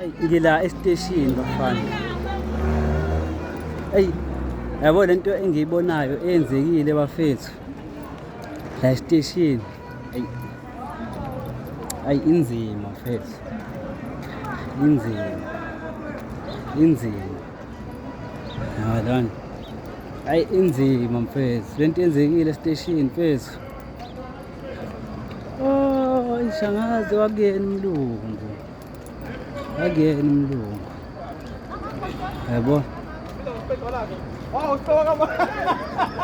Eyi ngila esiteshini bafana. Eyi yabo lento engiyibonayo eyenzekile bafethu. La esiteshini. Eyi. Ayi inzima mfethu. Inzima. Inzima. Yabona. Ayi inzima mfethu. Lento yenzekile esiteshini mfethu. Oh, ishangaze wakuyena umlungu. akuyena umlungu yabo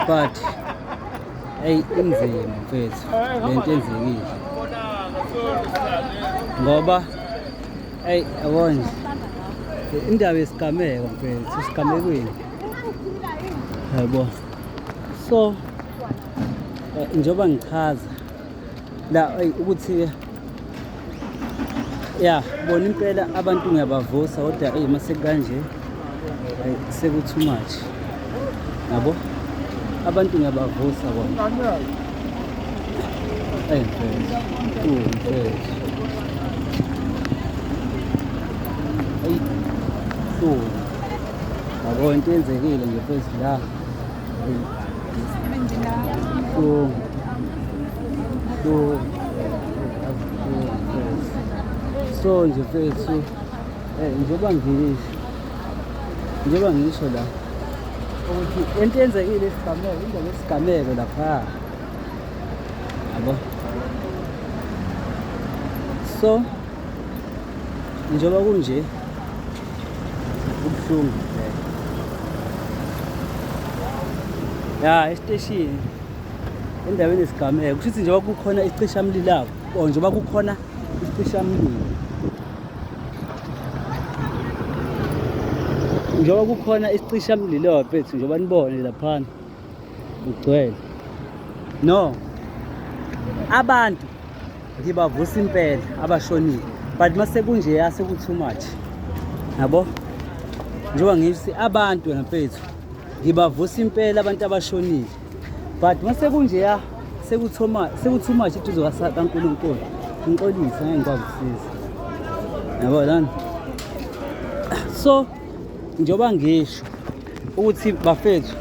but eyi inzima mfethu le nto enzekile ngoba eyi yabo nje indaba yesigameko mfethu isigamekweni yabo so eh, njengoba ngichaza la ukuthi ya bona impela abantu ngiyabavusa kodwa eyi uma sekukanje sekuthi much yabo abantu ngiyabavusa bona eyi mfethu mfethu eyi yabo into yenzekile nje mfethu la so nje fethu eh, njengoba ngilisho njengoba ngisho la ukuthi into yenzekile isigameko indaba yesigameko lapha yabo so njengoba kunje Kubuhlungu vele. Ya esiteshini endaweni yesigameko kushuthi njengoba kukhona isicishamlilo or njengoba kukhona isicishamlilo njengoba kukhona isicishamlilo bethu njengoba nibone laphana ugcwele no abantu ngibavusa impela abashonile but mase kunje yase ku too much yabo njengoba ngithi abantu ngempethu ngibavusa impela abantu abashonile but mase kunje ya sekuthoma sekutoo much iduzo kaNkulunkulu ngixolise ngeke ngikwazi ukusiza yabo lana so njengoba ngisho ukuthi bafethu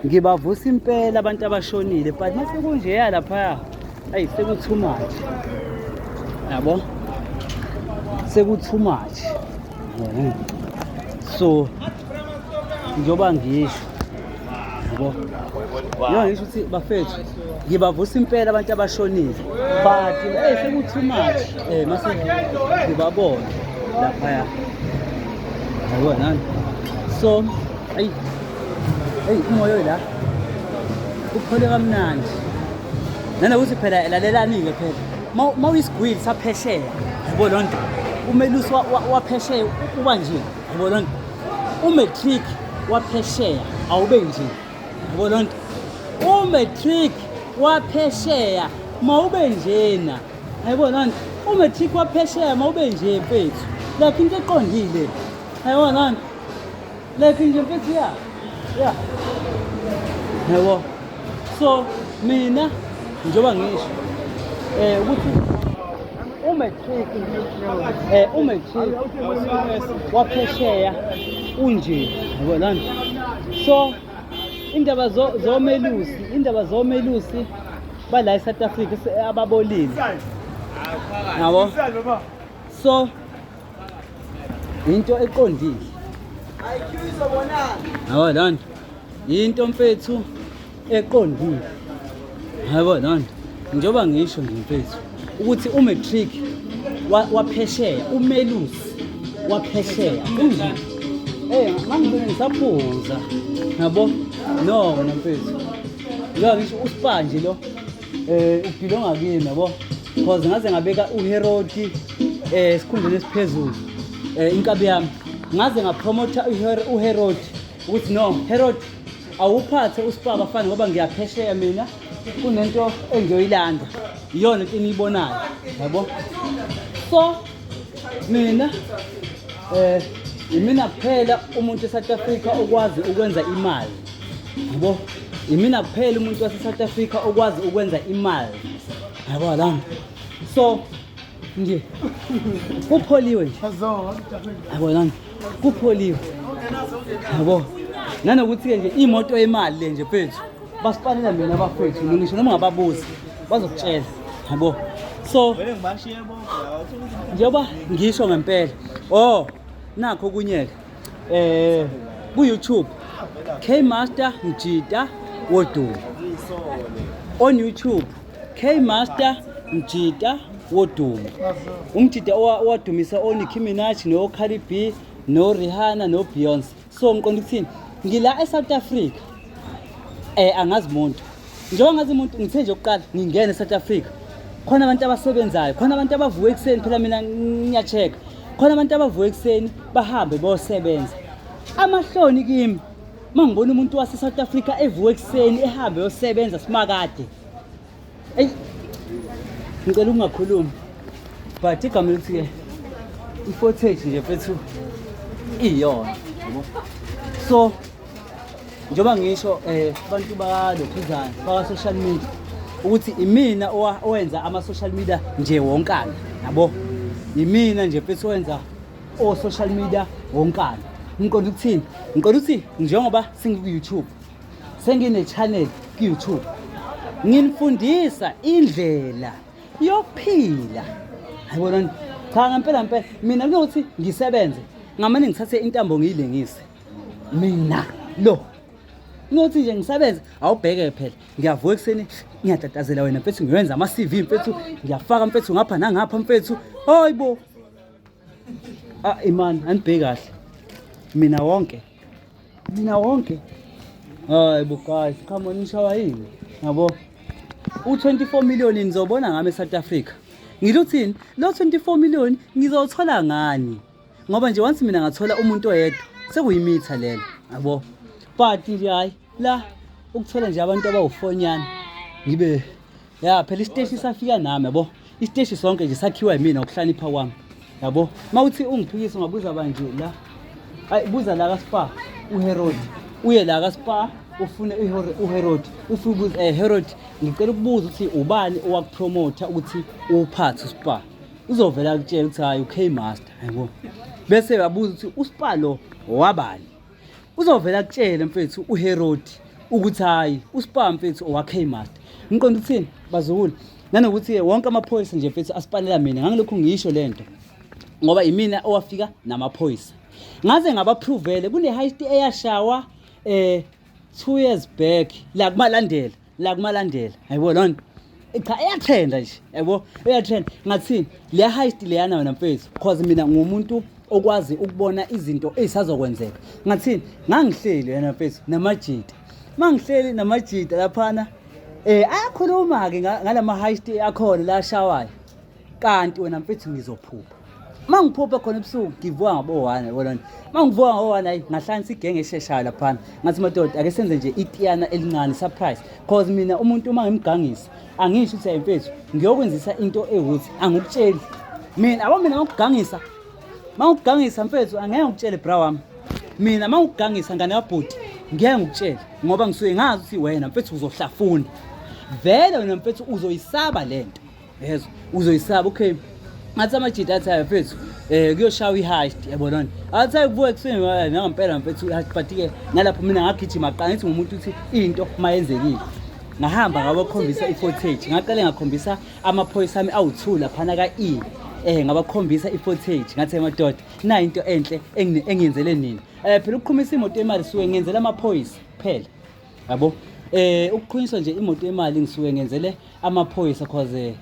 ngibavusa impela abantu abashonile but mase kunjeya laphaya ayi sekuthu much yabo sekuthu much so njengoba ngisho yabo yona ngisho ukuthi bafethu ngibavusa impela abantu abashonile but hey sekuthi much eh mase ngibabona lapha ya hayiwa nani so ayi ayi umoyo la uphole kamnandi nanokuthi phela lalelani-ke phela uma uyisigwili saphesheya yabo loo nto umelusi waphesheya uba nje yabo loo nto umatric waphesheya awube nje yabo loo nto umatric waphesheya mawube njena yabo loo nto umatric waphesheya mawube nje mfethu like into eqondile yabo loo nto like nje mfethu ya ya yabo so mina njengoba ngisho um ukuthi umatriki eh umatriki waphesheya unje yabona so indaba zomelusi indaba zomelusi bala eSouth Africa ababolile yabo so into eqondile yabo lana into mfethu eqondile hayibo nani njengoba ngisho nje mfethu ukuthi umatric waphesheya umelusi waphesheya kunjani Eh mangibona ngisaphuza yabo no wena mfethu ngoba ngisho usipanje lo eh ubhilonga kimi yabo because ngaze ngabeka uherodi eh sikhundleni esiphezulu eh inkabi yami ngaze ngapromotha uherodi ukuthi no herodi awuphathe uSpar bafana ngoba ngiyaphesheya mina kunento engiyoyilanda iyona into eniyibonayo yabo so mina eh imina kuphela umuntu eSouth Africa okwazi ukwenza imali yabo imina kuphela umuntu waseSouth Africa okwazi ukwenza imali yabo la so nje kupholiwe nje yabo la kupholiwe yabo nanokuthi-ke nje imoto yemali le nje fethu basipanela mina abafethu ngisho noma ungababuzi bazokutshela yabo so njengoba ngisho ngempela o oh, nakho kunyeke um eh, ku-youtube k master mjita wodumo on youtube K Master Mjita wodumo. Umjita owadumisa o Nicki Minaj no Cardi B no Rihanna no Beyonce. So ngiqonda ukuthini? Ngila eSouth Africa. Eh angazi umuntu. Njengoba ngazi umuntu ngithe nje ukuqala ngingena eSouth Africa. Khona abantu abasebenzayo, khona abantu abavuka ekuseni phela mina ngiyacheck. Khona abantu abavuka ekuseni bahambe bosebenza. Amahloni kimi Uma ngibona umuntu wase-South Africa evuka ekuseni ehambe yosebenza simakade. Eyi ngicela ukungakhulumi. But igama elithi ke i-footage nje mfethu iyona. So njengoba ngisho eh abantu balokhuzana baka social media ukuthi imina owenza ama social media nje wonkana yabo imina nje mfethu wenza o social media wonkana ngiqonda ukuthini ngiqonda ukuthi njengoba sengiku-youtube sengine-channel ku-youtube nginifundisa indlela yokuphila ayibonani cha ngempela mpela mina kunokuthi ngisebenze ngamane ngithathe intambo ngiyilengise mina lo nothi nje ngisebenze awubheke phela ngiyavuka ekuseni ngiyatatazela wena mfethu ngiwenza ama-cv mfethu ngiyafaka mfethu ngapha nangapha mfethu hayi bo Ah imani anibheki kahle. Mina wonke. Mina wonke. Hayi bo guys, come on nishawa yini? Yabo. U24 million nizobona ngami eSouth Africa. Ngilo uthini? Lo 24 million ngizothola ngani? Ngoba nje once mina ngathola umuntu oyedwa sekuyimitha lelo. Yabo. But nje hayi la ukuthola nje abantu abawufonyana ngibe ya phela isiteshi safika nami yabo isiteshi sonke nje sakhiwa yimina ukuhlanipha kwami yabo uma uthi ungiphikisa ungabuza banje la ayi buza la kaspa uherod uye la kaspa ufune uherod ufubuza eh herod ngicela ukubuza ukuthi ubani owakupromotha ukuthi uwuphathe uspa uzovela kutshela ukuthi hayi ukmaster yabo bese yabuza ukuthi uspa lo wabani uzovela kutshele mfethu uherodi ukuthi hhayi uspar mfethu owakmaster ngiqonda ukuthini bazukulu nanokuthi-ke wonke amaphoyisa nje mfethu asipanela mina ngangilokhu ngisho le nto ngoba imina owafika namaphoyisa ngaze ngabaphrovele kune-high st eyashawa um two years back la kumalandela la kumalandela yabo lona cha iyatrenda nje yabo iyatrend ngathini le heist leyana wena mfethu because mina ngumuntu okwazi ukubona izinto ezisazokwenzeka ngathini ngangihleli wena mfethu namajita mangihleli namajita laphana eh ayakhuluma-ke ngalama-heist akhona la ashawayo kanti wena mfethu ngizophupha uma ngiphuphe khona ebusuku ngivuka ngabo-one bona uma ngivuka ngabo-one ayi ngahlanisa igenge esheshayo laphana ngathi madoda ake senze nje itiyana elincane surprise cause mina umuntu uma ngimgangisa angisho ukuthi ayimfethu ngiyokwenzisa into ewuthi angikutsheli mina abo mina mangikugangisa mangikugangisa mfethu angeke ngikutshele bra wami mina mangikugangisa ngane yabhuti ngeke ngikutshele ngoba ngisuke ngazi ukuthi wena mfethu uzohlafuna vele wena mfethu uzoyisaba lento yezwa uzoyisaba okay ngathi amajita athi ayo mfethu um kuyoshawa i-heist yabona ni athi ayo kubuka ekuseni nangampela mfethu i-heist but-ke ngalapho mina ngagijima qala ngithi ngumuntu ukuthi into uma yenzekile ngahamba ngabakhombisa i-footage ngaqale ngakhombisa amaphoyisa ami awu-two laphana ka-e eh ngabakhombisa i-footage ngathi emadoda nayo into enhle engiyenzele nini um phela ukuqhumisa imoto yemali suke ngiyenzela amaphoyisa kuphela yabo eh ukuqhunyiswa nje imoto yemali ngisuke ngenzele amaphoyisa cause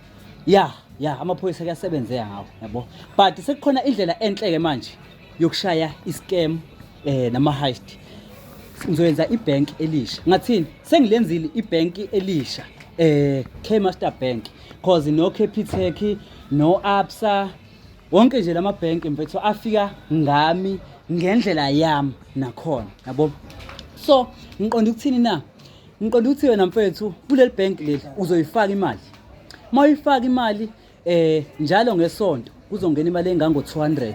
ya ya amaphoyisa kuyasebenzeka ngawo yabo but sekukhona indlela enhle ke manje yokushaya iscam eh nama heist ngizoyenza ibank elisha ngathini sengilenzile ibank elisha eh K Master Bank cause no Capitec no Absa wonke nje lama bank mfethu afika ngami ngendlela yami nakhona yabo so ngiqonda ukuthini na ngiqonda ukuthi wena mfethu kuleli bank leli uzoyifaka imali uma uyifaka imali eh njalo ngesonto kuzongena imali engango 200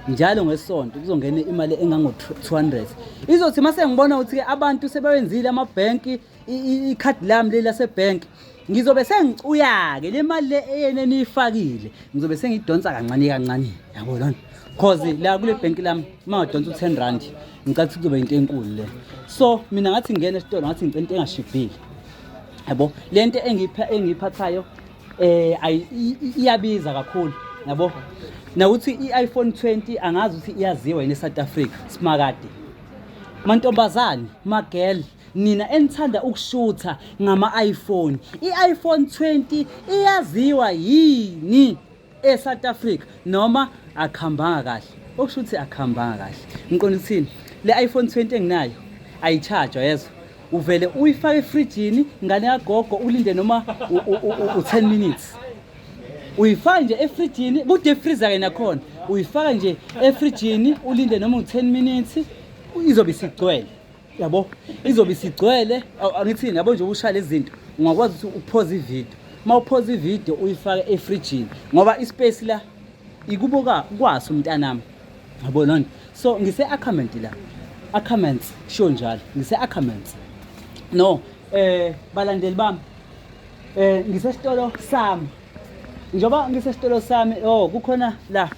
njalo ngesonto kuzongena imali engango 200 izothi mase ngibona ukuthi ke abantu sebewenzile ama bank ikhadi lami leli lasebhenki ngizobe sengicuyake le mali le eyena eniyifakile ngizobe sengidonsa kancane kancane yabo lona cause la kule bhenki lami uma udonsa u-ten rand ngicala ukuthi kuzoba yinto enkulu le so mina ngathi ngingena esitolo ngathi ngicela into engashibhile yabo le nto engiyiphathayo eh iyabiza kakhulu yabo nawuthi i-iPhone 20 angazi ukuthi iyaziwa yini eSouth Africa simakade mantombazane magel Nina enithanda ukushutha ngama iPhone, i iPhone 20 iyaziwa yini e South Africa noma akhambanga kahle? Okusho ukuthi akhambanga kahle. Ngiqonda ukuthini? Le iPhone 20 enginayo ayicharge yezwa. Uvele uyifake efrijini ngane yagogo ulinde noma u 10 minutes. Uyifaka nje efrijini, ku deep freezer ke nakhona. Uyifaka nje efrijini ulinde noma u 10 minutes izobe isigcwele. yabo izobe isigcwele angithini yabo nje ushaya lezi zinto ungakwazi ukuthi uphoze ividiyo uma uphoze ividiyo uyifake efrijini ngoba ispace la ikubo kwaso mntanami yabo lonto so ngise-acament la acaments sho njalo ngise-acaments no eh balandeli bami eh ngisesitolo sami njengoba ngisesitolo sami oh kukhona la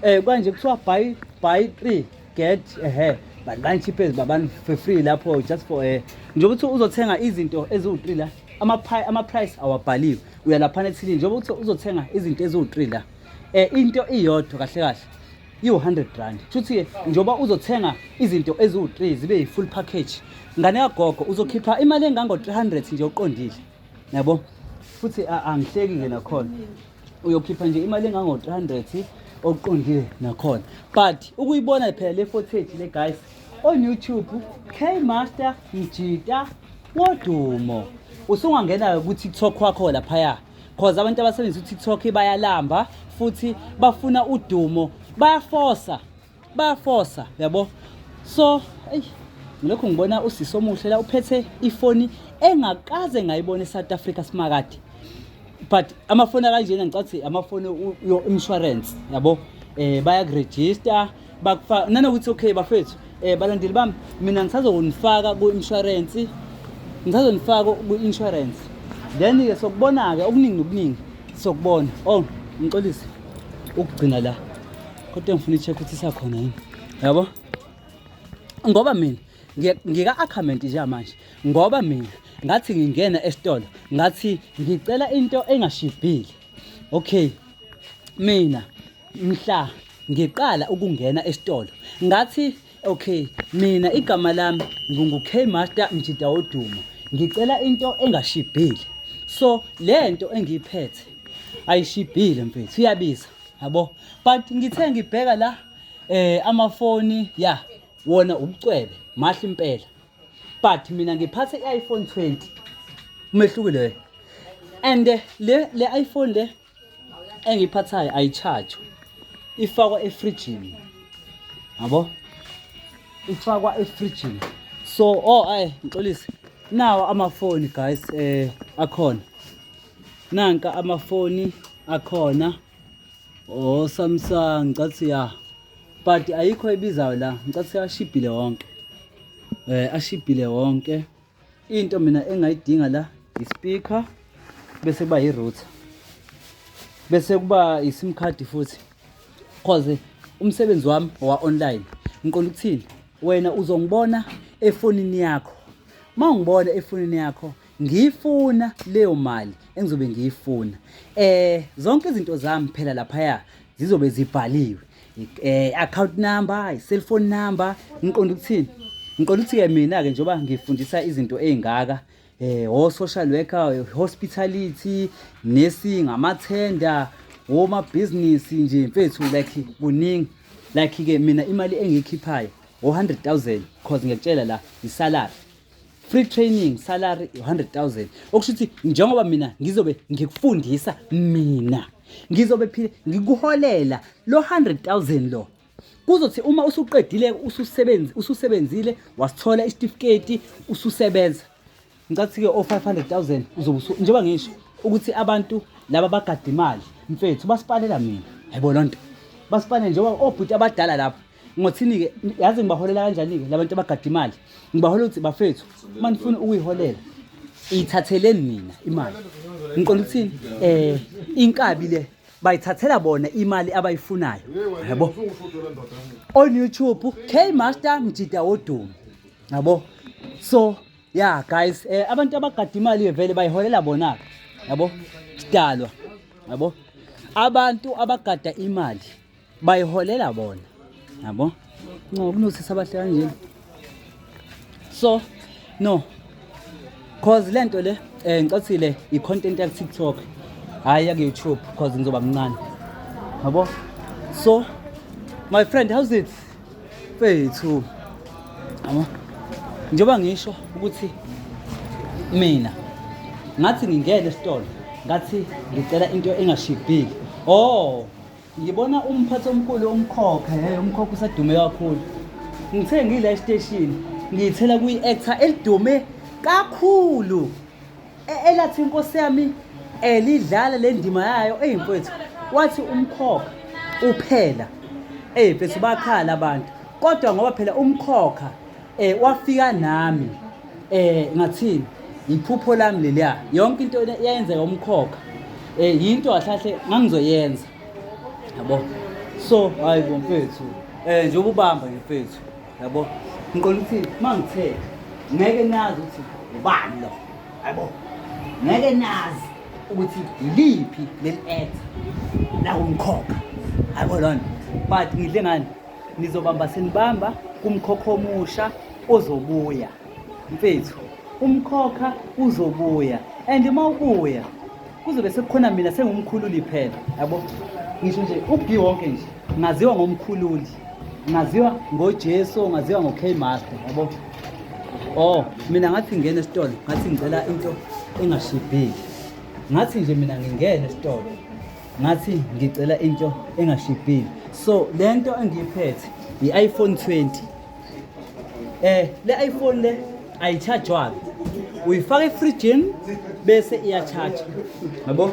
eh kanje kuthiwa buy buy 3 get a hair but bani cheap as babani for free lapho just for a nje ukuthi uzothenga izinto eziwu3 la ama ama price awabhaliwe uyalaphana ethini nje ukuthi uzothenga izinto eziwu3 la eh into iyodwa kahle kahle iwu100 rand futhi njoba uzothenga izinto eziwu3 zibe yi full package ngane yagogo uzokhipha imali engango 300 nje uqondile yabo futhi angihleki ke nakhona uyokhipha nje imali engango-300 okuqondile nakhona but ukuyibona phela le footage le guys on youtube k master mjita wodumo usungangena kutiktok wakho laphaya cause abantu abasebenzisa utiktok bayalamba futhi bafuna udumo bayafosa bayafosa yabo so eyi ngilokhu ngibona usisi omuhle la uphethe ifoni engakaze ngayibona eSouth Africa simakade but amafoni akanjena ngicathi amafoni yo insurance yabo eh bayakuregister bakufaka nanokuthi okay bafethu eh balandeli bami mina ngisazonifaka ku insurance ngisazonifaka ku insurance then ke sokubona ke okuningi nokuningi sokubona oh ngixolise ukugcina la kodwa ngifuna i-check ukuthi isakhona yini yabo ngoba mina ngika-acament nje manje ngoba mina ngathi ngingena esitolo ngathi ngicela into engashibhile okay mina mhla ngiqala ukungena esitolo ngathi Okay, mina igama lami ngingu K Master Mjida Oduma. Ngicela into engashibhile. So lento engiyiphethe ayishibhile mfethu iyabiza yabo but ngithe ngibheka la eh amafoni ya wona ubucwebe mahle impela but mina ngiphathe i-iPhone 20 umehlukile and le le iPhone le engiyiphathayo ayitshajwe ifakwa efrijini yabo ifakwa efrijini so oh ay ngixolise nawo amafoni guys eh akhona nanka amafoni akhona oh Samsung ngicathu ya but ayikho ebizayo la ngicathu ashibhile wonke eh ashibhile wonke into mina engayidinga la ispeaker bese kuba i-router bese kuba i-sim card futhi cause umsebenzi wami owa-online ngiqonda ukuthini wena uzongibona efonini yakho uma ungibona efonini yakho ngiyifuna leyo mali engizobe ngiyifuna eh zonke izinto zami phela laphaya zizobe zibhaliwe eh account number i-cell phone number ngiqonda ukuthini ngiqonda ukuthi-ke mina-ke njengoba ngifundisa izinto ey'ngaka eh o-social worker hospitality nursing amathenda womabhizinisi nje mfethu like kuningi like-ke mina imali engiyikhiphayo o-hundred thousand cause ngiyakutshela la isalary free training salary 100000 okusho ukuthi njengoba mina ngizobe ngikufundisa mina ngizobe phile ngikuholela lo 100000 lo kuzothi uma usuqedile ususebenzi ususebenzile wasithola isitifiketi ususebenza ngicathi ke o 500000 uzobe njengoba ngisho ukuthi abantu laba bagada imali mfethu basipalela mina yebo lonto basipalela njengoba obhuti abadala lapho Ngothini-ke yazi ngibaholela kanjani-ke la bantu abagada imali ngibaholela ukuthi bafethu uma nifuna ukuyiholela iyithatheleni nina imali ngiqonda ukuthini um inkabi le bayithathela bona imali abayifunayo yabo on youtube k master mjida wodumo yabo so ya yeah, guys um abantu abagada imali-ke vele bayiholela bona-ke yabo sidalwa yabo abantu abagada imali bayiholela bona yabo no kunosisi abahle kanjena so no cause lento le eh ngicacile i content ya TikTok hayi ya YouTube cause ngizoba mncane yabo so my friend how's it fethu yabo njengoba ngisho ukuthi mina ngathi ngingene esitolo ngathi ngicela into engashibhile oh Ngibona umphathi omkhulu umkhokha, hey umkhokha usedume kakhulu. Ngithe ngila esiteshini, ngiyithela kuyi-actor elidume kakhulu. E- Elathi inkosi yami elidlala le ndima yayo eyi mfwethu wathi umkhokha uphela eyi mfethu bakhala abantu kodwa ngoba phela umkhokha Eh wafika nami eh ngathini iphupho lami leliya yonke into yayenzeka umkhokha eh yinto kahle ngangizoyenza yabo so hayi bomfethu eh nje ubamba mfethu yabo ngiqonda ukuthi mangithe ngeke nazi ukuthi ubani lo yabo ngeke nazi ukuthi liphi leli etha la umkhokha yabo lona but ngidle ngani nizobamba senibamba kumkhokha omusha ozobuya mfethu umkhokha uzobuya and uma ubuya kuzobe sekukhona mina sengumkhululi phela yabo ngisho nje ubhi wonke nje ngaziwa ngomkhululi ngaziwa ngojesu ngaziwa ngo-k master yabo oh mina ngathi ngingena esitolo ngathi ngicela into engashibhile ngathi nje mina ngingena esitolo ngathi ngicela into engashibhile so le nto engiyiphethe yi-iphone 20 um eh, le iphone le ayitshajwanga uyifaka efrijini bese iyatshaja yabo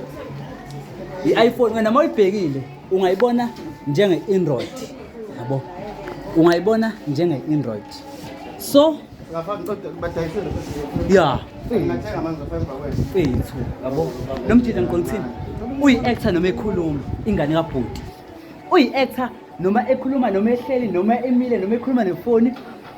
i-iphone wena uma uyibhekile ungayibona njenge-android yabo ungayibona njenge-android so ya fethu yabo lo mjita ngiqondithini uyi-actor noma ekhuluma ingane kabhuti uyi-actor noma ekhuluma noma ehleli noma emile noma ekhuluma nefoni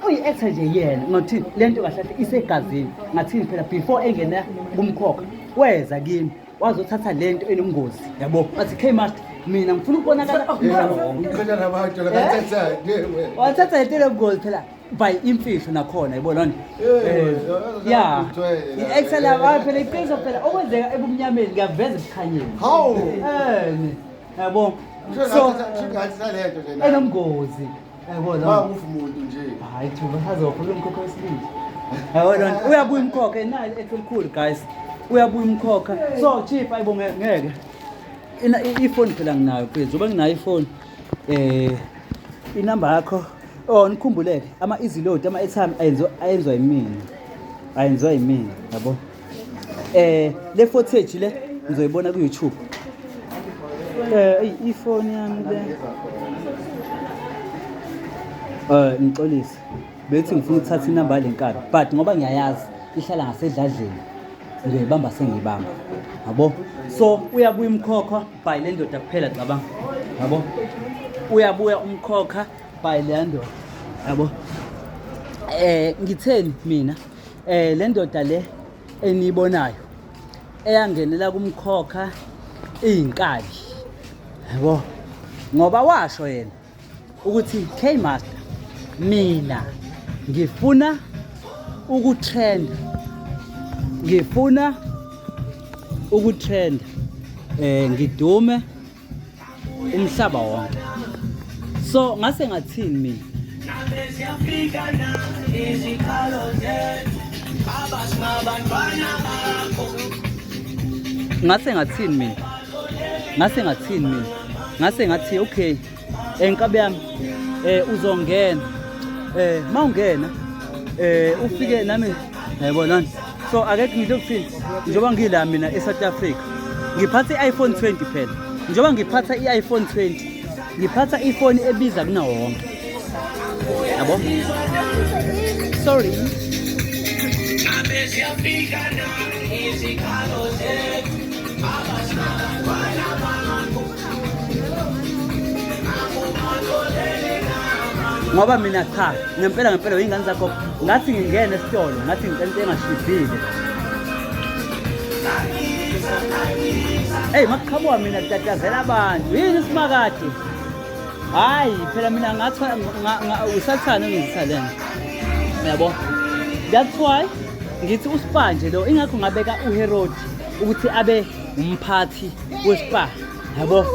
uyi-actor nje yena ngathini le nto kahle kahle isegazini ngathini phela before engena kumkhokha weza kimi wazothatha le nto enobungozi yabo athi k master mina ngifuna ukubonakala wathatha le nto enobungozi phela by imfihlo nakhona yabo lona eh, ya i-excel yabayo phela iqiniso phela okwenzeka ebumnyameni ngiyaveza ebukhanyeni hawu ene yabo so enomngozi yabo lona awufi umuntu nje hayi thuba sazokhuluma umkhokha wesibili yabo lona uyabuya umkhokha enayo ekhulu guys uyabuya umkhokha so chief ayibo ngeke ifoni phela nginayo phezulu uba nginayo ifoni um inamba yakho Oh nikhumbuleke ama easy load ama airtime ayenziwa ayenzwa yimina. Ayenziwa yimina yabo. Eh le footage le ngizoyibona ku YouTube. Eh ifoni yami le. Eh ngixolise. Bethi ngifuna ukuthatha inamba yale nkabi but ngoba ngiyayazi ihlala ngasedladleni ngiyoyibamba sengiyibamba. Yabo. So uyabuya umkhokha by le ndoda kuphela cabanga. Yabo. Uyabuya umkhokha by leya ndoda yabo eh ngitheni mina eh le ndoda le eniyibonayo eyangenela kumkhokha iyinkali yabo ngoba washo yena ukuthi K master mina ngifuna ukutrenda ngifuna ukutrenda eh ngidume umhlaba wonke so ngase ngathini mina ngase ngathini mina ngase ngathini mina ngase ngathi okay enkabe eh, yami eh uzongena eh mawungena eh ufike nami yayibona so akekho ngidle ukuthini njengoba ngila mina e-south africa ngiphatha i-iphone 20 phela njengoba ngiphatha i-iphone 20 ngiphatha ifoni ebiza kunawo wonke yabo sorry ngoba mina cha ngempela ngempela yingane zakho ngathi ngingene esitolo ngathi ngicela into engashibhile eyi makuqhamuka mina kutatazela abantu yini isimakade hhayi phela mina ngathi usathane ongizisa le nto yabo that's why ngithi uspa nje lo ingakho ngabeka uherodi ukuthi abe umphathi wespa yabo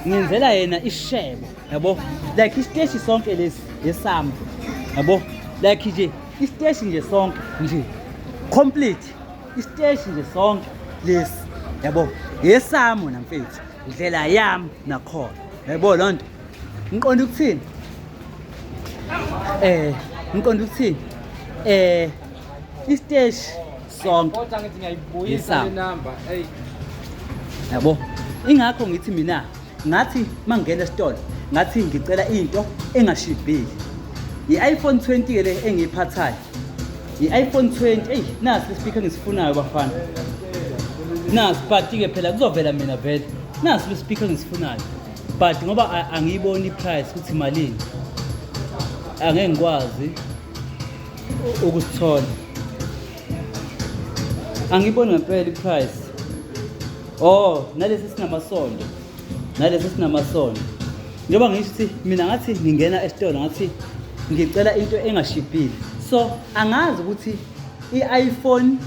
ngenzela yena ishebo yabo like isiteshi sonke lesi lesami yabo like nje isiteshi nje sonke nje complete isiteshi nje sonke lesi yabo yesami wena mfethu ndlela yami nakhona yabo loo nto ngiqonda ukuthini eh ngiqonda ukuthini eh isiteshi sonke kodwa ngithi ngiyayibuyisa le number hey yabo ingakho ngithi mina ngathi mangena esitolo ngathi ngicela into engashibhile i-iphone 20 ke le engiyiphathayo i-iphone 20 eyi nasi ispeaker ngisifunayo bafana nasi but-ke phela kuzovela mina vele nasi lespeaker engisifunayo but ngoba angiyiboni iprice ukuthi malini angeke ngikwazi ukusithola angiboni ngempela iprice oh nalesi sinamasondo nalesi sinamasondo njengoba ngisho ukuthi mina ngathi ngingena esitolo ngathi ngicela into engashibhile so angazi ukuthi i-iphone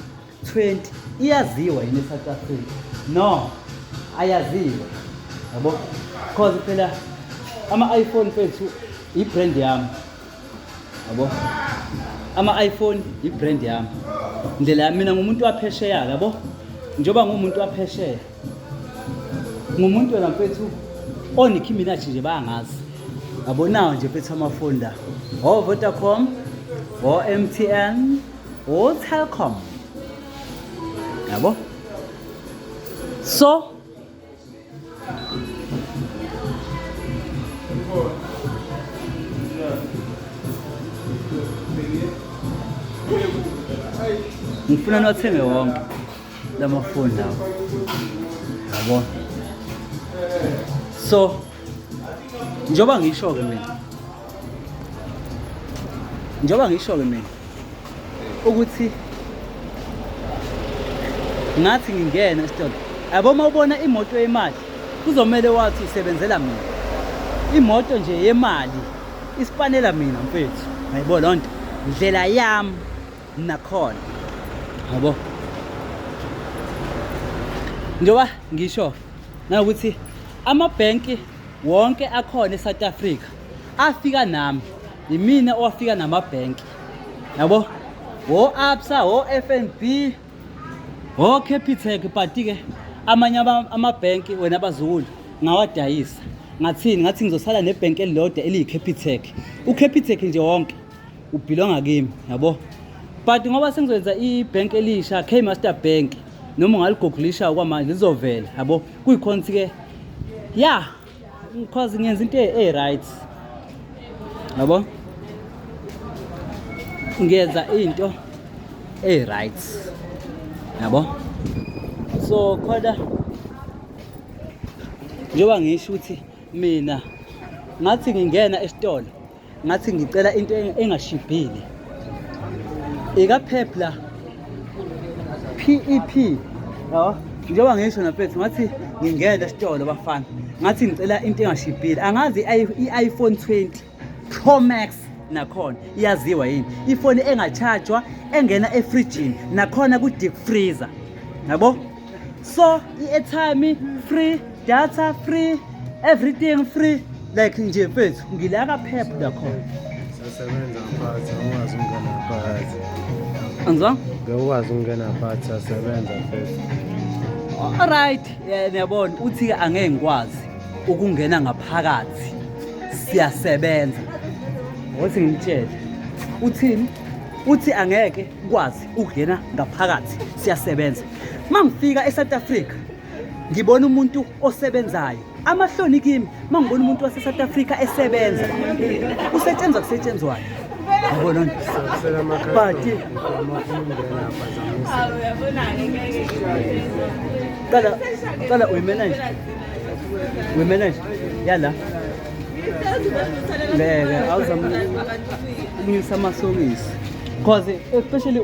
20 iyaziwa yini e-south africa no ayaziwa yabo because phela ama-iphone fethu i-brand yami yabo ama-iphone yi-brand yami ndlela yami mina ngumuntu waphesheya yabo njengoba ngumuntu waphesheya ngumuntu wena mfethu onikhi mina nje bangazi yabonawo nje mfethu amafoni la o-vodacom o-m t n o-telcom yabo so ngifuna niwathenge wonke la mafoni lawo yabo so njengoba ngisho-ke mina njengoba ngisho-ke mina ukuthi ngathi ngingena esitolo yabo uma ubona imoto yemali kuzomele wathi isebenzela mina imoto nje yemali isipanela mina mfethu ngayibo loo nto ndlela yami nakhona yabo njengoba ngisho-ke Nawukuthi amabhenki wonke akhona eSouth Africa afika nami yimina owafika namabhenki yabo wo absa wo fnb wo capitec bhati-ke amanye amabhenki wena abazukulu ngawadayisa ngathini ngathi ngizosala nebhenki elilodwa eliyi-capitec u-capitec nje wonke ubhilonga kimi yabo but ngoba sengizoyenza i-bank elisha k master bank noma ungaligoglisha okwamanje lizovela yabo kuyikhonthi ke ya because ngiyenza into e-right yabo ngiyenza into e-right yabo so khona njengoba ngisho ukuthi mina ngathi ngingena esitolo ngathi ngicela into engashibhile ikapheph la PEP e yabo njengoba ngisho nafethu ngathi ngingena esitolo bafana ngathi ngicela into engashibhile angazi i-iPhone 20 Pro Max nakhona iyaziwa yini ifoni engachajwa engena efrijini nakhona ku-deep freezer yabo so i-airtime free data free everything free like nje mfethu ngila kaphepha lakhona sasebenza phansi awukwazi ukungena phakathi anzwa ngewukwazi ukungena phakathi sasebenza mfethu alright eh, niyabona uthi-ke angeke ngikwazi ukungena ngaphakathi siyasebenza ngothi ngimtshele uthini uthi angeke kwazi ukungena ngaphakathi siyasebenza mangifika eSouth Africa ngibona umuntu osebenzayo amahloni kimi mangibona umuntu waseSouth Africa esebenza usetshenzwa kusetshenzwayo yabona but qala qala uyimanage uyimanage yala ngeke awuzamnyusa amasokisi because especially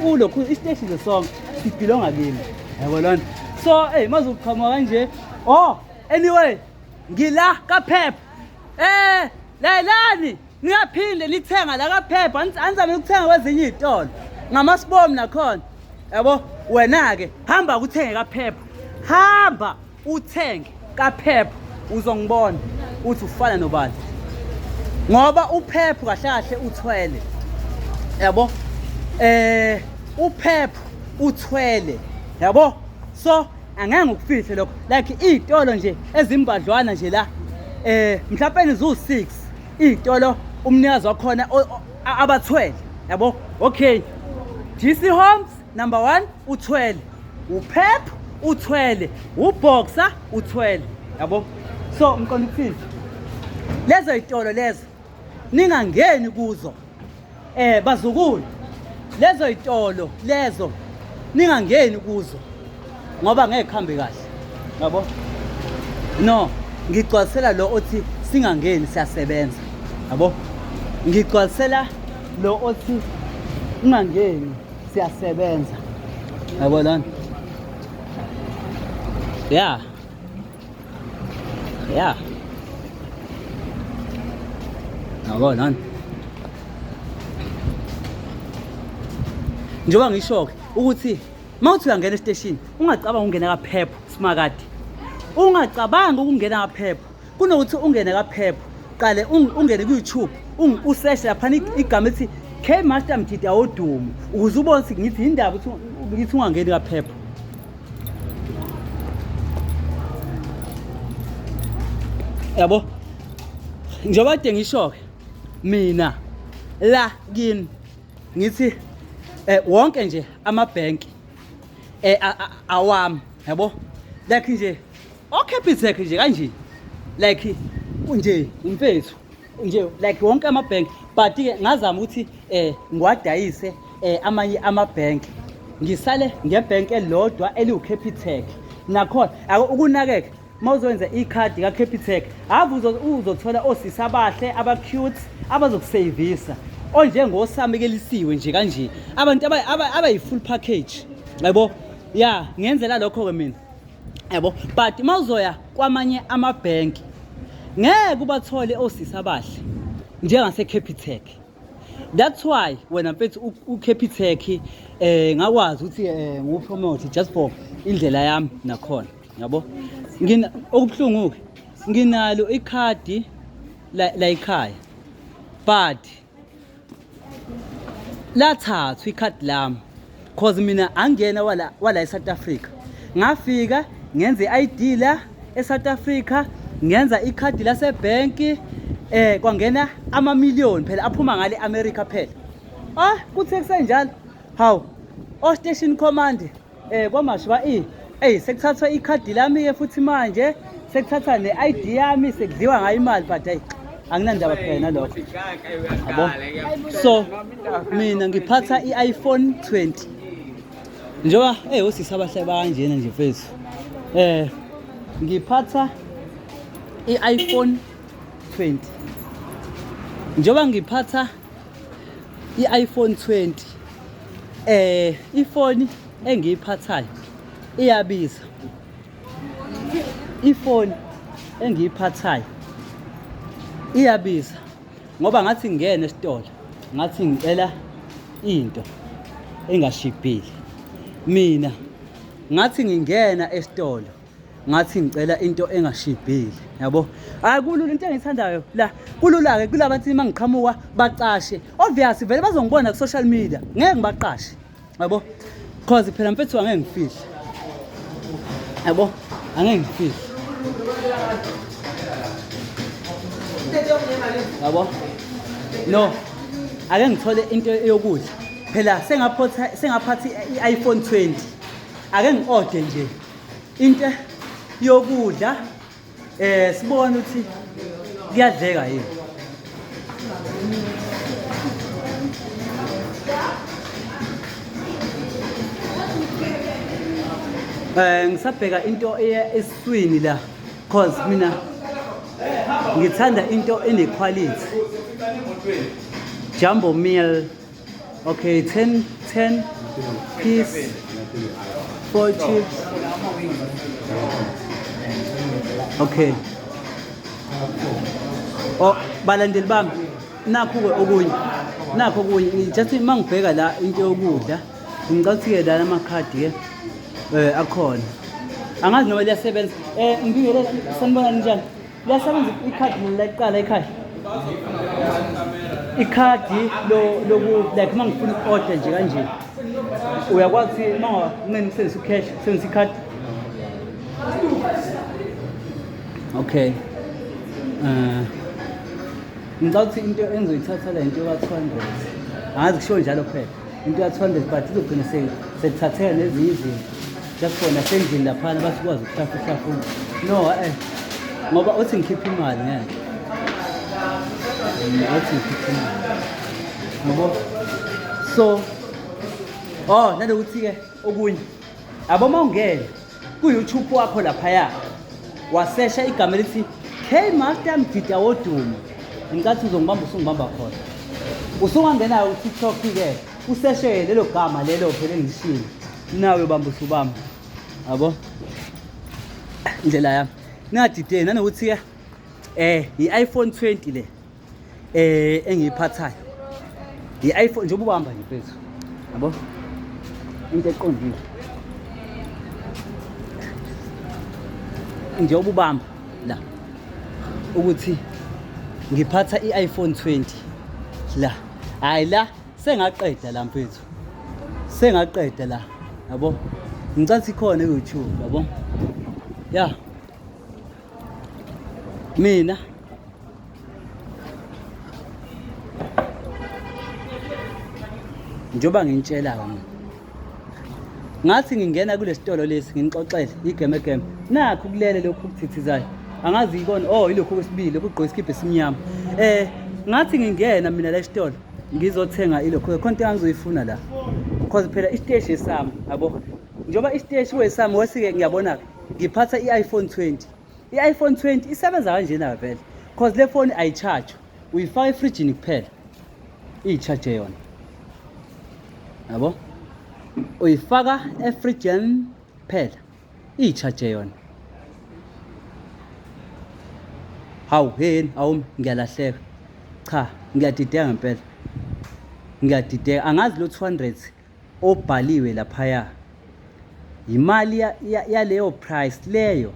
ulokhu isiteshi the song sibhilonga kimi yabo lona so eyi maze uqhamuka kanje oh anyway ngila kaphepha um layelani niyaphinde lithenga la kaphepha anizame ukuthenga kwezinye iy'tolo ngamasibomu nakhona yabo wena-ke hamba kuthenge kaphepha hamba uthenge kaphepho uzongibona uthi ufana nobani ngoba uphepho kahle kahle uthwele yabo eh uphepho uthwele yabo so angeke ngikufihle lokho like iy'tolo nje ezimbadlwana nje la eh mhlawumbe nizu-six iy'tolo umnikazi wakhona abathwele yabo okay gc homes number one uthwele uphep uthwele uboxer uthwele yabo so mqondo ukuthini lezo yitolo lezo ningangeni kuzo eh bazukulu lezo yitolo lezo ningangeni kuzo ngoba ngeke kuhambe kahle yabo no ngigcwalisela lo othi singangeni siyasebenza yabo ngigcwalisela lo othi ungangeni siyasebenza yabo lana ya ya yabo lana njengoba ngisho-ke ukuthi uma uthi uyangena esiteshini ungacabanga ukungena kaphepho simakade ungacabangi ukungena kaphepho kunokuthi ungene kaphepho qale ungene ku-youtube useshe laphana igama ethi k master mjida wodumo ukuze ubone ukuthi ngithi yindaba ukuthi ngithi ungangeni kaphepho yabo njengoba kade ngisho-ke mina la kini ngithi eh wonke nje amabhenki eh awami yabo like nje Okepitech nje kanje. Like unje umfethu. Unje like wonke ama bank but ke ngazama ukuthi eh ngiwadayise eh amanye ama bank. Ngisale nge bank elodwa eliwu Capitec. Nakhona ukunakeka mawuzowenza ikhadi ka Capitec ave uzothola osisa abahle aba cute abazokusavisa onjengosamekelisiwe nje kanje abantu abayi-full package yabo ya ngenzela lokho-ke mina yabo but uma uzoya kwamanye amabhenki ngeke ubathole osisi abahle njengasecapitec that's why wena mfethu ucapitec um eh, ngakwazi ukuthi um eh, ngupromote just for indlela yami nakhona yabo okubuhlungu-ke nginalo ikhadi layikhaya but lathathwa ikhadi lami cause mina angena wala wala eSouth Africa ngafika ngenze iID la eSouth Africa ngenza ikhadi lase bank eh kwangena ama million phela aphuma ngale America phela ah kuthe kusenjalo hawu o station command Eh kwamashiba i Ey sekuthathwa ikhadi lami ke futhi manje sekuthatha ne-ID yami sekudliwa ngayo imali but hey anginandaba phela nalokho yabo so mina ngiphatha i-iPhone 20 njengoba eh osisi abahle bakanjena nje mfethu eh ngiphatha i-iPhone 20 njengoba ngiphatha i-iPhone 20 eh ifoni engiyiphathayo iyabiza ifoni engiyiphathayo iyabiza ngoba ngathi ngingene esitolo ngathi ngicela into engashibhile mina ngathi ngingena esitolo ngathi ngicela into engashibhile yabo hayi kulula into engiyithandayo la kulula-ke kula bathi uma ngiqhamuka bacashe obvious vele bazongibona ku-social media ngeke ngibaqashe yabo cause phela mfethu angeke ngifihle yabo angeke ngifihle yabo no ake ngithole into yokudla phela sengaphatha i-iphone 20 ake ngi-ode nje into yokudla eh sibone ukuthi kuyadleka yini eh ngisabheka into eya eswini la cause mina ngithanda into ene quality jumbo meal Okay, 10, 10 piece, 4 chips. Okay. Oh, balandeli bami nakho ke okunye nakho okunye just uma ngibheka la into yokudla ngicela ukuthi-ke lana amakhadi ke um akhona angazi noma liyasebenza um ngibingelela sanibona ninjani liyasebenza ikhadi mina layiqala ikhadi ikhadi loku like uma ngifuna i-order nje kanje uyakwazi ukuthi uma unganceni usebenzisa ucash usebenzisa ikhadi okay um ngicabanga ukuthi into engizoyithatha le nto yoka-two hundred angazi kushiwo njalo phela into ya-200 but izogcina sekuthatheka nezinye izinto jakhona sendlini laphana basikwazi ukuhlafuna hlafuna no eh ngoba othi ngikhiphe imali ngeke othi ngikhiphe imali ngoba so oh nanokuthi-ke okunye aboma ungene Ku-YouTube wakho laphaya wasesha igama elithi K-Master Mgida Wodumo. Ngicathu uzongibamba usungibamba khona. Usungangena uTikTok ke useshe lelo gama lelo phela engishilo. Nawe bamba usubamba. Yabo? Indlela yami. Ningadideni nanokuthi ke eh i-iPhone 20 le. eh engiyiphathayo i-iPhone njengoba uhamba nje mfethu yabo into eqondile njengoba ubamba la ukuthi ngiphatha i-iPhone 20 la hayi la sengaqeda la mfethu sengaqeda la yabo ngicathi khona ku-YouTube yabo ya mina njengoba ngintshela mina ngathi ngingena kule sitolo lesi nginixoxele igame game nakho kulele lokhu kuthithizayo angazi yikona oh ilokhu kwesibili lokhu ugqoke isikibha esimnyama eh ngathi ngingena mina la sitolo ngizothenga ilokhu khona into engizoyifuna la because phela isiteshi esami yabo njengoba isiteshi wesami wesike ngiyabona-ke ngiphatha i-iphone 20 i-iphone 20 isebenza kanjena vele cause le foni ayitshaje uyifaka efrijini kuphela iyitshaje yona yabo uyifaka efrijini kuphela iyitshaje yona hawu heni awumi ngiyalahleka cha ngiyadideka ngempela ngiyadideka angazi lo 200 obhaliwe laphaya yimali yaleyo price leyo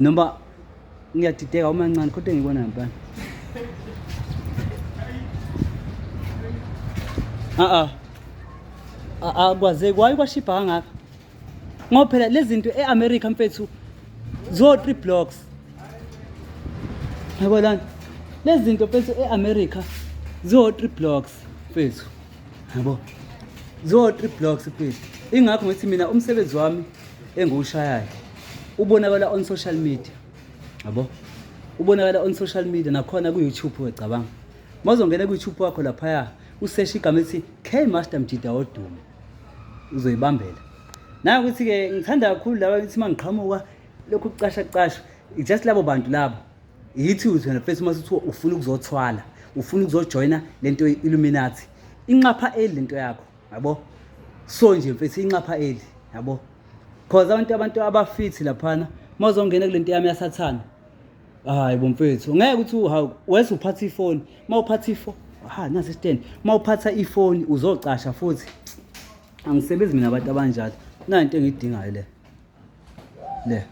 noma ngiyadideka uma ncane kodwa ngibona ngempela a a akwazeki waye kwashibha kangaka ngoba phela lezi zinto e-america mfethu zo-three blocks yabo lana lezi zinto mfethu e-america zo-three blocks mfethu yabo zo-three blocks mfethu ingakho ngithi mina umsebenzi wami engiwushayayo ubonakala on social media yabo ubonakala on social media nakhona ku-youtube wecabanga mawuzongena ku-youtube wakho laphaya useshe igama elithi k master mjida wodumo uzoyibambela nayo ukuthi-ke ngithanda kakhulu laba ukuthi uma ngiqhamuka lokhu kucasha kucashwa just labo bantu labo yithi uthi wena fesi uma sithiwa ufuna ukuzothwala ufuna ukuzojoyina le nto illuminati inxapha eli lento yakho yabo so nje mfethu inxapha eli yabo cause abantu abantu abafithi laphana mawuzongena kulento yami yasathana hayi bomfethu ngeke ukuthi uhawu wese uphatha ifoni uma uphatha ifoni ha nasi stand uma uphatha ifoni uzocasha futhi angisebenzi mina abantu abanjalo nayo into engiyidingayo le le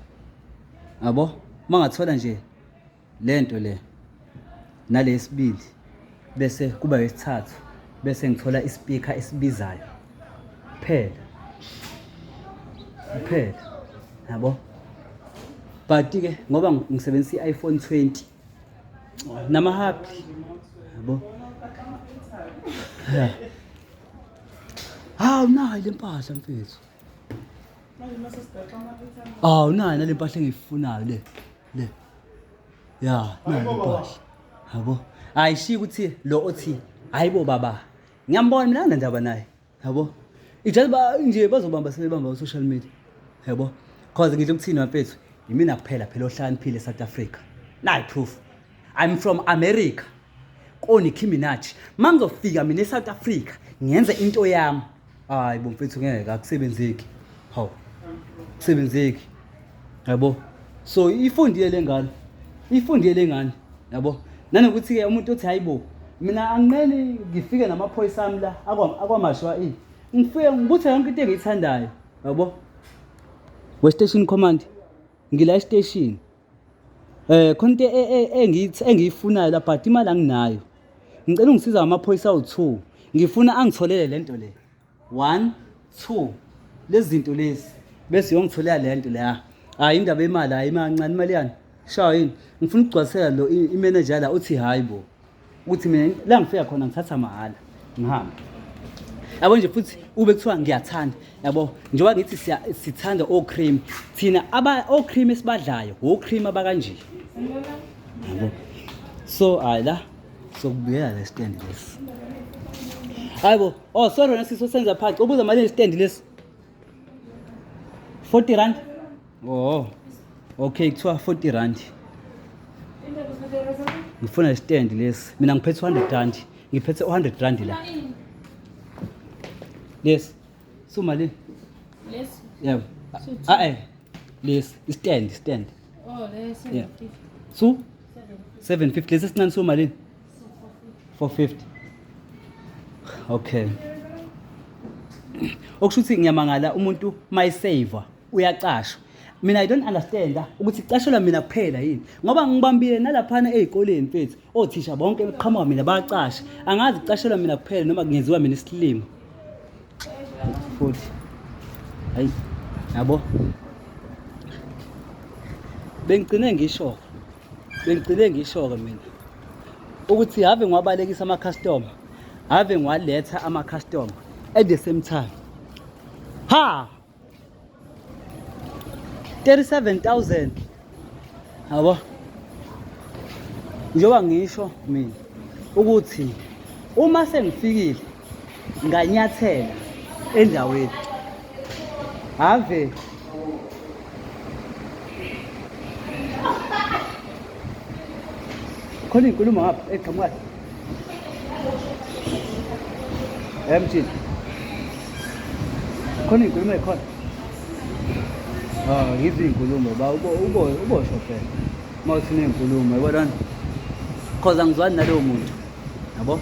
yabo uma ngathola nje le nto le nalesibili bese kuba yesithathu bese ngithola ispeaker esibizayo kuphela kuphela yabo but ke ngoba ngisebenzisa i-iPhone 20 nama happy yabo hawu nayo le mpahla mfethu hawu nayo nale mpahla engiyifunayo le le ya nayo impahla yabo ayishiya ukuthi lo othi hayibo baba ngiyambona mina anandaba naye yabo ijazi ba nje bazobamba sebebamba ku social media yabo cause ngidla ukuthini mfethu yimina kuphela phela ohlaniphile eSouth Africa nayi proof i'm from america koni Nicki Minaj mangizofika mina eSouth Africa ngenze into yami Hayi bo mfethu ngeke akusebenzeki. Hawu. Kusebenzeki. Yabo. So ifundile lengane. Ifundile lengane. Yabo. Nanokuthi ke umuntu othi hayibo mina anginqeni ngifike namaphoyisa ami la akwamashwa ini. Ngifike ngibuthe yonke into engiyithandayo. Yabo. We station command. Ngila station. Eh khona into e- e- engithi engiyifunayo la but imali anginayo. Ngicela ungisiza ngamaphoyisa awu-2. Ngifuna angitholele le nto le. 1 2 lezi zinto lezi bese uyongitholela le nto leya. Hayi indaba yemali hayi imancane imali yani. Shawa yini? Ngifuna ukugcwalisela lo i- i-manager la uthi hayi bo. ukuthi mina la ngifika khona ngithatha mahhala ngihambe yabo nje futhi ube kuthiwa ngiyathanda yabo njengoba ngithi sithanda o-cream thina o-cream esibadlayo wo-cream abakanje yabo so hayi la sokubuyela le stand lesi hayi bo oh sorry wena sisi osenza phaqi ubuza malini stand lesi 40 rand oh okay kuthiwa 40 rand ngifuna istand lesi mina ngiphethe 100 rand ngiphethe 100 rand la lesi suma le lesi yebo ah eh lesi istand istand oh lesi yeah su 750 lesi sincane suma lini 450 okay okusho ukuthi ngiyamangala umuntu mayisave uyacashwa mina i don't understand ah, ukuthi icashelwa mina kuphela yini ngoba ngibambile nalaphana ezikoleni mfethu othisha bonke eqhamuka mina bacasha angazi icashelwa mina kuphela noma kungenziwa mina isilimo futhi hayi yabo bengigcine ngisho bengigcine ngisho-ke mina ukuthi have ngiwabalekisa ama-customer have ngiwaletha ama-customer at the same time ha 37000 yabo njengoba ngisho mina ukuthi uma sengifikile nganyathela endaweni have khona inkulumo ngapha eqhamukayo emthini khona inkulumo ekhona um yizi iy'nkulumo ba ubosho phela uma uthi neyinkulumo yibonani cause angizwani nalowo muntu yabo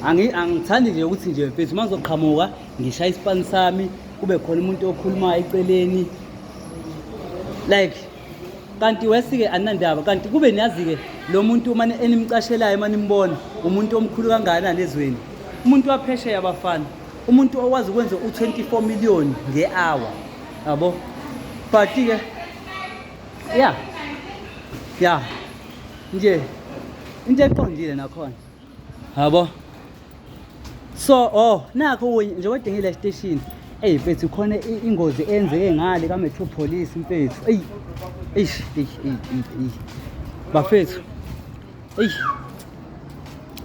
angithandi nje ukuthi nje mfethu uma ngizoqhamuka ngishaya isipani sami kube khona umuntu okhulumayo eceleni like kanti wesike anandaba kanti kube niyazi-ke lo muntu mane enimcashelayo uma nimbona umuntu omkhulu kangakanani ezweni umuntu waphesheya abafana umuntu owazi ukwenza u-24 million nge-hour yabo but-ke ya ya nje into eqondile nakhona yabo so oh nakho nje wedingile esiteshini eyi mfethu khona ingozi eyenzeke ngale kametro police mfethu eyi eish eish eish bafethu eish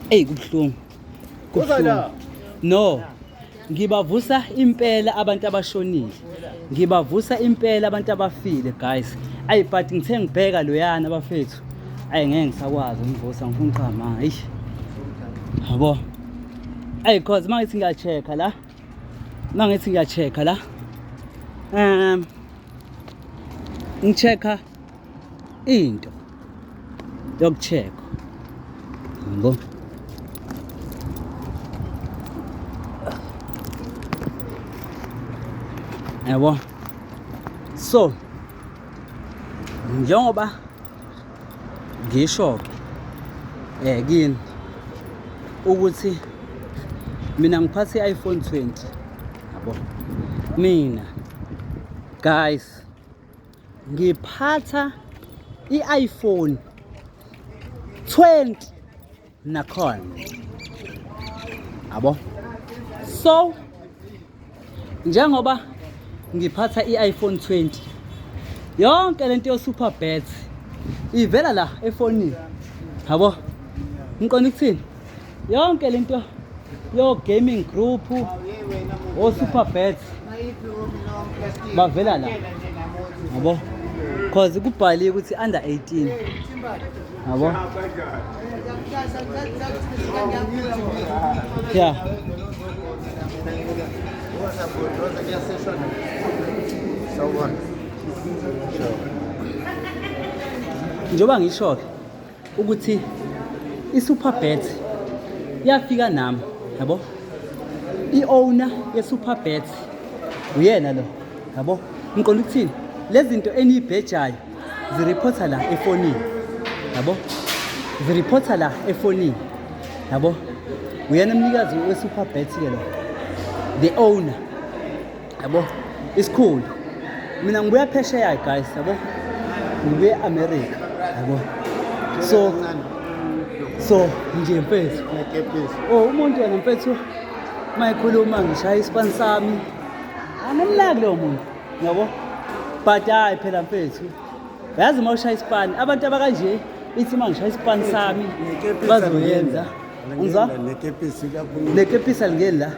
eyi kubuhlungu Kuza la. No. Ngibavusa impela abantu abashonile. Ngibavusa impela abantu abafile guys. Ayi but ngithe ngibheka loyana bafethu. Ayi ngeke ngisakwazi umvusa ngifuna uqama. Eish. Yabo. Ayi cause mangithi ngiya check la. Mangithi ngiya check la. Um ngichecka into yokucheck yabo yabo so njengoba ngisho ke eh kini ukuthi mina ngiphathe i-iPhone 20 yabo mina guys ngiphatha i-iPhone 20 nakhona abo so njengoba ngiphatha i-iPhone 20 yonke lento yo super bet ivela la efonini yabo ngiqonda ukuthini yonke lento yo gaming group o super bets bavela la yabo cause kubhaliwe ukuthi under 18 yabo yeah njengoba ngisho-ke ukuthi i-superbet yafika nami yabo i-owner ye-superbet uyena lo yabo ngiqonda ukuthini lezi zinto eniyibhejayo ziriphotha la efonini yabo ziriphotha la efonini yabo uyena umnikazi we-superbet-ke lo the owner yabo isikhulu mina ngibuya phesheya guys yabo ngibuye america yabo so so nje mfethu oh umuntu yena mfethu uma ekhuluma ngishaya isipani sami anamlaki lowo muntu yabo but hayi phela mfethu yazi uma ushaya isipani abantu abakanje ithi uma ngishaya isipani sami bazoyenza ngizwa nekepisi alingeni la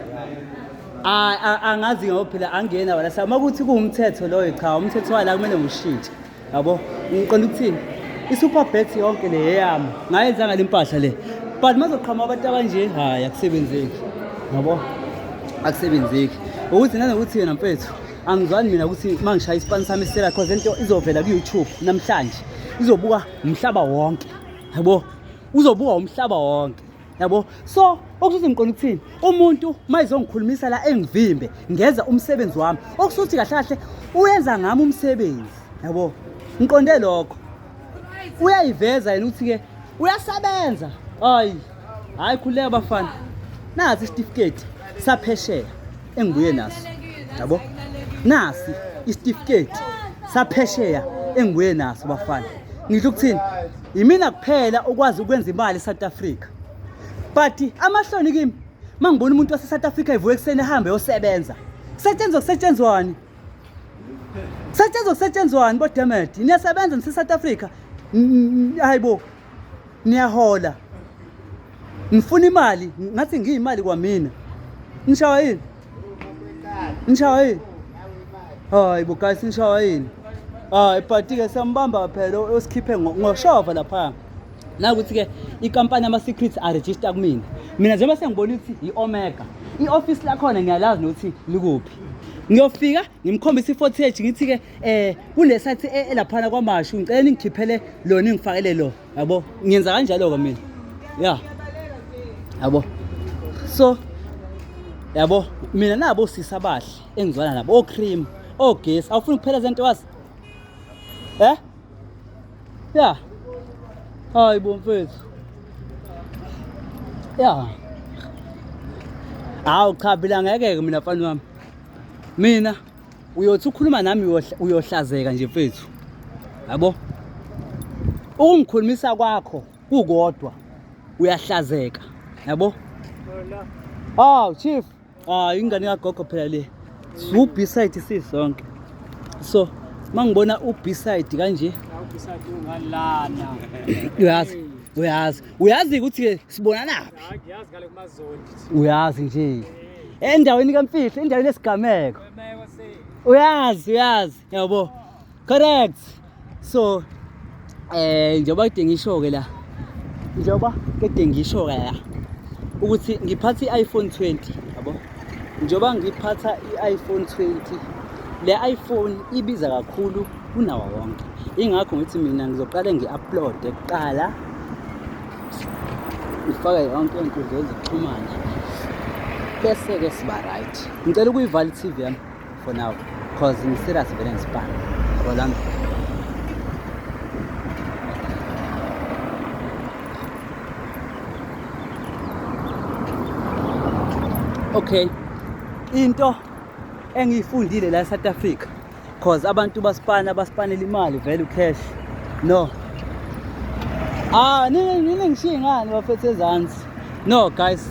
Hayi a- angazi ngoba phela angiyena wala sa uma kuthi kuwumthetho loyo cha umthetho wala kumele ngiwushintshe yabo ngiqonda ukuthini i-super bet yonke le yeyami ngayenza ngale mpahla le but mazoqhama abantu abanje hhayi akusebenzeki yabo akusebenzeki ukuthi nanokuthi yena mfethu angizwani mina ukuthi uma ngishaya isipani sami isitela cause le nto izovela ku-youtube namhlanje izobuka umhlaba wonke yabo uzobuka umhlaba wonke yabo so okusuthi ngiqonda ukuthini umuntu uma izongikhulumisa la engivimbe ngenza umsebenzi wami okusuthi kahle kahle uyenza ngami umsebenzi yabo ngiqonde lokho uyayiveza yena ukuthi-ke uyasebenza hayi hhayi khululeka bafana nazi isitifiketi saphesheya engibuye naso yabo nasi isitifiketi saphesheya engibuye naso bafana ngisho ukuthini yimina kuphela okwazi ukwenza imali eSouth Africa but amahloni kimi mangibona umuntu waseSouth Africa evuka ekuseni ehambe yosebenza setshenzwa kusetshenzwani setshenzwa kusetshenzwani bodemedi niyasebenza niseSouth Africa hayibo niyahola ngifuna imali ngathi ngiyimali kwamina nishawa yini nishawa yini hayi bo guys nishawa yini hayi party-ke siyambamba phela osikhiphe ngoshova lapha nakuthi-ke ikampani yama-secrets aregister kumina mina njengoba sengibona ukuthi yi-omega i-ofisi lakhona ngiyalazi nokuthi likuphi ngiyofika ngimkhombisa i-fortage ngithi-ke um eh, kule sathi e-, elaphana kwamashu ngicela ningikhiphele lona ingifakele lo yabo ngiyenza kanjalo-ke mina ya yabo so yabo mina nabo sisi abahle engizwana nabo ocream ogesi awufuni kuphela zento wazi eh ya hayi bo mfethu ya hawu cha phela ngeke-ke mina mfana wami mina uyothi ukhuluma nami uyohlazeka nje mfethu yabo ukungikhulumisa kwakho kukodwa uyahlazeka yabo oh chief ah ingane kagogo phela le su beside sisonke so mangibona u beside kanje uyazi uyazi uyazi ukuthi ke sibonanaphi uyazi nje endaweni kamfihlo endaweni esigameko uyazi uyazi yabo correct so eh njengoba kudinga isho-ke la njengoba kede ngisho-ke la ukuthi ngiphatha i-iphone 20 yabo njengoba ngiphatha i-iphone 20 le iphone ibiza kakhulu kunawo wonke ingakho ngithi mina ngizoqale ngi-uploade kuqala ifaka yonke inkundla ezikuxhumana bese-ke siba right ngicela ukuyivala i-tv yami for now because ngiserious vele ngisibani yabo lami okay into engiyifundile la e-south africa cause abantu basipana basipanela imali vele ucash no ah nini nini ngishiye ngani bafethe ezansi no guys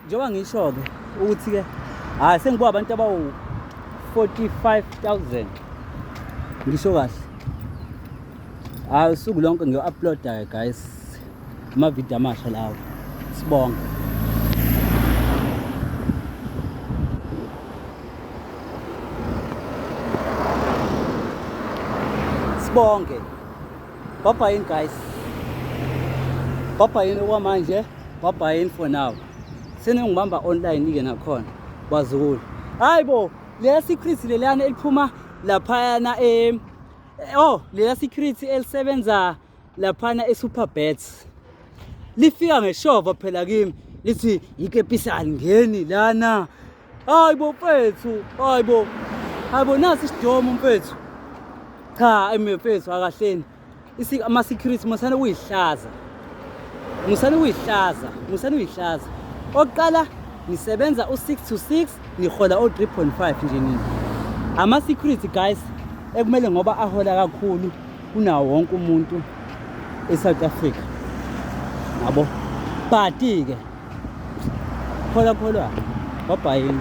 njengoba ngisho-ke ukuthi-ke hhayi sengibuka abantu abawu-45 000 ngisho kahle hhayi usuku lonke ngiyo-uploada-ke guys amavidiyo amasha lawo sibonga sibonge baba yini guys baba yini okwamanje baba yini for now seningibamba online ke nakhona bazukulu hayi bo leya secret leliyana eliphuma laphayana em eh, oh leya secret elisebenza laphana e-superbets lifika ngeshova phela kimi lithi yikepisani ngeni lana hayi bo mfethu hayi bo hayi bo nasi isidomo mfethu cha emfethu akahleni ama-security musane kuyihlaza musane kuyihlaza musane kuyihlaza oqala nisebenza u-6 to 6 nihola o-3.5 nje nini ama-security guys ekumele ngoba ahola kakhulu kunawo wonke umuntu e-south africa yabo but-ke kholwa kholwa wabhayini